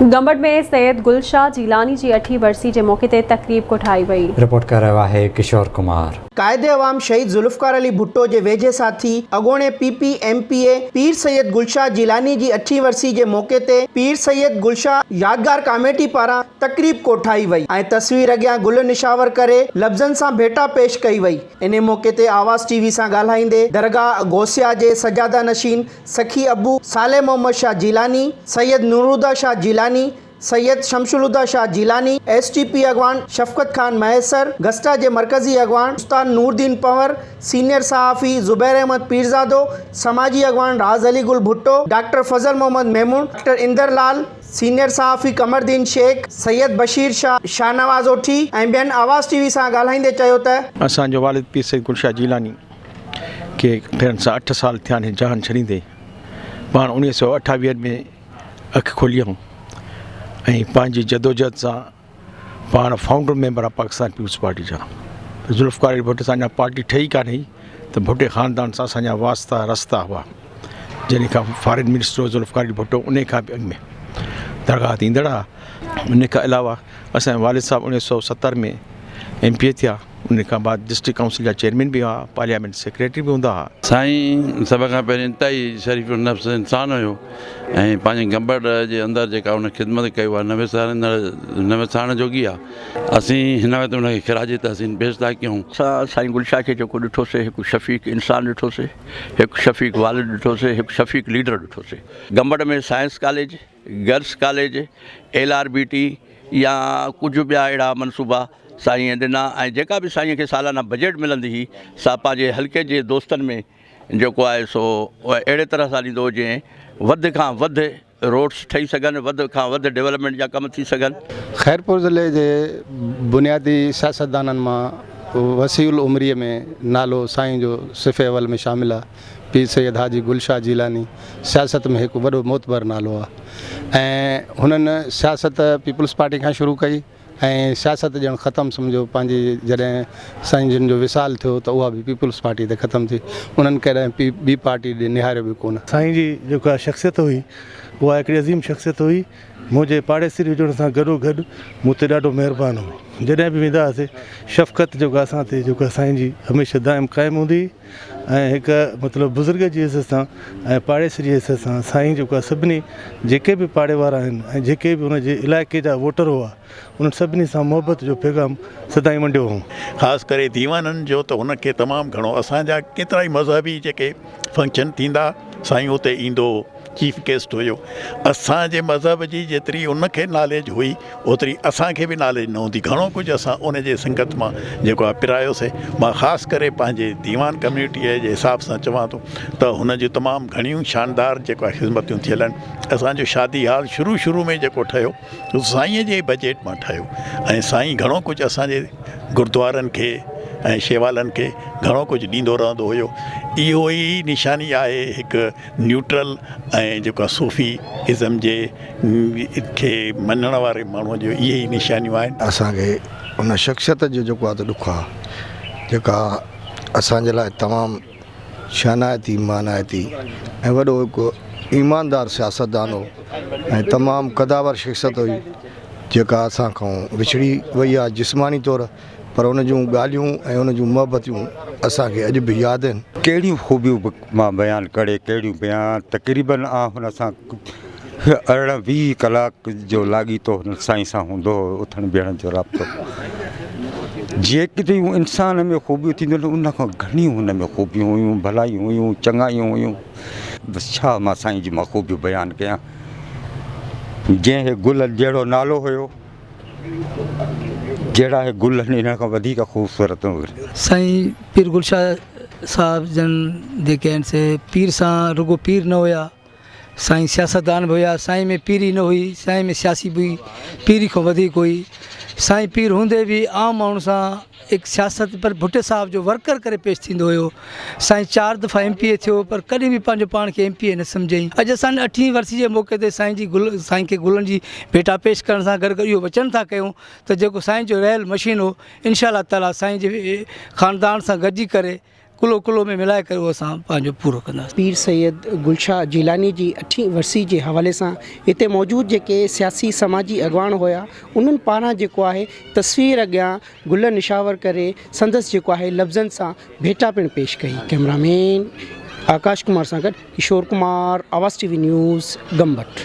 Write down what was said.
گمبٽ ۾ سيد گل شاهه جيلاني جي اٺين ورسي جي موقعي تي تقريب ڪوٺائي وئي. رپورٽ ڪري رهيو آهي ڪشور ڪمار. قائد عوام شهيد ذوالفقار علي ڀٽو جي ويجهي ساٿي اڳوڻي P P M P A Pir Syed Gul Shah Jilani جي اٺين ورسي جي موقعي تي پير سيد گل شاهه يادگار ڪاميٽي پاران تقريب ڪوٺائي وئي ۽ تصوير اڳيان گل نشاور ڪري لفظن سان ڀيٽا پيش ڪئي وئي انهي موقعي تي آواز ٽي وي سان ڳالهائيندي درگاهه غوثيه جي سجاده نشين سخي ابو صالح محمد شاهه جيلاني، سيد نورالهديٰ شاهه جيلاني، سيد شمس الهديٰ Shah Jilani, S T P اڳواڻ شفقت خان مهيسر، گسٽا جي مرڪزي اڳواڻ استاد نوردين پنور، سينيئر صحافي زبير احمد پيرزادو، سماجي اڳواڻ Raz Ali Gul Bhutto, doctor Fazal Muhammad Memon, doctor Inder Lal, senior صحافي قمردين شيخ، سيد بشير شاهه، شاهنواز اوٺي ۽ ٻين آواز ٽي وي سان ڳالهائيندي چيو ته. اسان جو والد پير سيد گل شاهه جيلاني. کي ٽن سان اٺ سال ٿيا آهن جان ڇڏيندي پاڻ اڻيويھ سئو اٺاويھن ۾ اک کولي ھئم ۽ پنهنجي جدوجھد سان پاڻ founder member of Pakistan peoples party جا ذوالفقار علي ڀٽو سان اڃا پارٽي ٺهي ڪا نه هئي ته ڀٽي خاندان سان اسان جا واسطا رستا هئا جڏهن کان فارن منسٽر هو ذوالفقار علي ڀٽو ان کان به اڳ ۾ درگاهه تي ايندڙ هئا ان کان علاوه اسان جا والد صاحب اڻيويھ سئو ستر ۾ ايم پي اي ٿيا ان کان بعد ڊسٽرڪٽ ڪائونسل جا چيئرمين به هئا پارليامينٽ سيڪريٽري به هوندا هئا. سائين سڀ کان پهرين انتهائي شريف النفس انسان هيو ۽ پنهنجي گنبڙ جي اندر جيڪا هن خدمت ڪئي اها نه وساريندڙ نه وسارڻ جوڳي آهي اسين هن وقت هن کي خراج تحسين پيش ٿا ڪيون. اسان سائين گل شاهه کي جيڪو ڏٺوسي هڪ شفيق انسان ڏٺوسي هڪ شفيق والد ڏٺوسي هڪ شفيق ليڊر ڏٺوسي. Gambat ۾ science college girls college, L R B T يا ڪجهه ٻيا اهڙا منصوبا سائينء ڏنا ۽ جيڪا به سائينء کي سالانه بجيٽ ملندي هئي سا پنهنجي حلقي جي دوستن ۾ جيڪو آهي سو اهڙي طرح سان ڏيندو هو جئين وڌ کان وڌ روڊس ٺهي سگهن وڌ کان وڌ ڊولپمينٽ جا ڪم ٿي سگهن. خيرپور ضلعي جي بنيادي سياستدانن مان وسيع العمريء ۾ نالو سائين جو صف اول ۾ شامل آهي. پير سيد حاجي گل شاهه جيلاني سياست ۾ هڪ وڏو معتبر نالو آهي ۽ هنن سياست پيپلز پارٽي کان شروع ڪئي ۽ سياست ڄڻ ختم سمجهو پنهنجي جڏهن سائين جن جو وصال ٿيو ته اها به پيپلز پارٽي تي ختم ٿي انهن ڪڏهن پي ٻي پارٽي ڏي نهاريو به ڪونه. سائين جي جيڪا شخصيت هئي اها هڪڙي عظيم شخصيت هئي منهنجي پاڙيسري هجڻ سان گڏو گڏ مون تي ڏاڍو مهربان هو جڏهن به ويندا هئاسي شفقت جيڪا اسان تي جيڪا سائين جي هميشه دائم قائم هوندي هئي. ۽ هڪ مطلب بزرگ جي عزت سان ۽ پاڙيسري جي عزت سان سائين جيڪو آهي سڀني جيڪي به پاڙي وارا آهن ۽ جيڪي به ان جي علائقي جا ووٽر هئا انهن سڀني سان محبت جو پيغام سدائين ونڊيو هئون. خاص ڪري ديوانن جو ته هن کي تمام گهڻو اسان جا ڪيترائي مذهبي جيڪي فنڪشن ٿيندا سائين اتي ايندو هو. چيف گيسٽ هيو اسان جي مذهب جي جيتري ان کي ناليج هئي اوتري اسان کي به ناليج نه هوندي گهڻو ڪجهه اسان ان جي سنگت مان جيڪو آهي پرايوسي مان خاص ڪري پنهنجي ديوان ڪميونٽي جي حساب سان چوان ٿو ته هن جي تمام گهڻيون شاندار جيڪو آهي خدمتون ٿيل آهن اسان جو شادي هال شروع شروع ۾ جيڪو ٺهيو سائين جي بجيٽ مان ٺهيو ۽ سائين گهڻو ڪجهه اسان جي گردوارن کي ۽ شيوالن کي گهڻو ڪجهه ڏيندو رهندو هيو اهو ئي نشاني آهي هڪ نيوٽرل ۽ جيڪو آهي صوفي ازم جي کي مڃڻ واري ماڻهو جو اهي ئي نشانيون آهن. اسان کي ان شخصيت جو جيڪو آهي ته ڏک آهي جيڪا اسان جي لاء تمام شانائتي مانائتي ۽ وڏو هڪ ايماندار سياستدان هو ۽ تمام قداور شخصيت هئي جيڪا اسان کان وڇڙي وئي آهي جسماني طور پر ان جون ڳالهيون ۽ ان جون محبتيون اسان کي اڄ به ياد آهن. ڪهڙيون خوبيون به مان بيان ڪري ڪهڙيون بيان تقريباً آ هن سان ارڙهن ويهه ڪلاڪ جو لاڳيتو هن سائين سان هوندو هو اٿڻ بيهڻ جو رابطو جيڪڏهن انسان ۾ خوبيون ٿينديون ته ان کان گهڻيون هن ۾ خوبيون هيون ڀلائيون هيون چڱايون هيون بس ڇا مان سائين جي مان خوبيون بيان ڪيان جنهن هي گل جهڙو نالو هيو جهڙا هي گل آهن انهن کان وڌيڪ خوبصورت هن سائين پير گل شاهه صاحب جن جيڪي آهن سي پير سان رڳو پير نه هيا سائين سياستدان به هيا سائين ۾ پيري نه هئي سائين ۾ سياسي به پيري کان وڌيڪ هئي سائين پير هوندي به عام ماڻهو سان هڪ سياست پر ڀٽي صاحب جو ورڪر ڪري پيش ٿيندو هيو سائين چار دفعا ايم پي اي ٿيو پر ڪڏهن به پنهنجو پاڻ کي ايم پي اي نه سمجهيائين اڄ اسان اٺين ورسي جي موقعي تي سائين جي گل سائين کي گلن جي ڀيٽا پيش ڪرڻ سان گڏ اهو وچن ٿا ڪيون ته جيڪو سائين جو رهيل مشين هو انشاء الله تعالي سائين جي خاندان سان گڏجي ڪري ڪلو ڪلو ۾ ملائي ڪري اهو اسان پنهنجو پورو ڪنداسين پير سيد گل شاهه جيلاني جي اٺين ورسي جي حوالي سان هتي موجود جيڪي سياسي سماجي اڳواڻ هيا انهن پاران جيڪو آهي تصوير اڳيان گل نشاور ڪري سندس جيڪو آهي لفظن سان ڀيٽا پڻ پيش ڪئي ڪئميرا مين آڪاش ڪمار سان گڏ Kishore Kumar Awaz T V news Gambat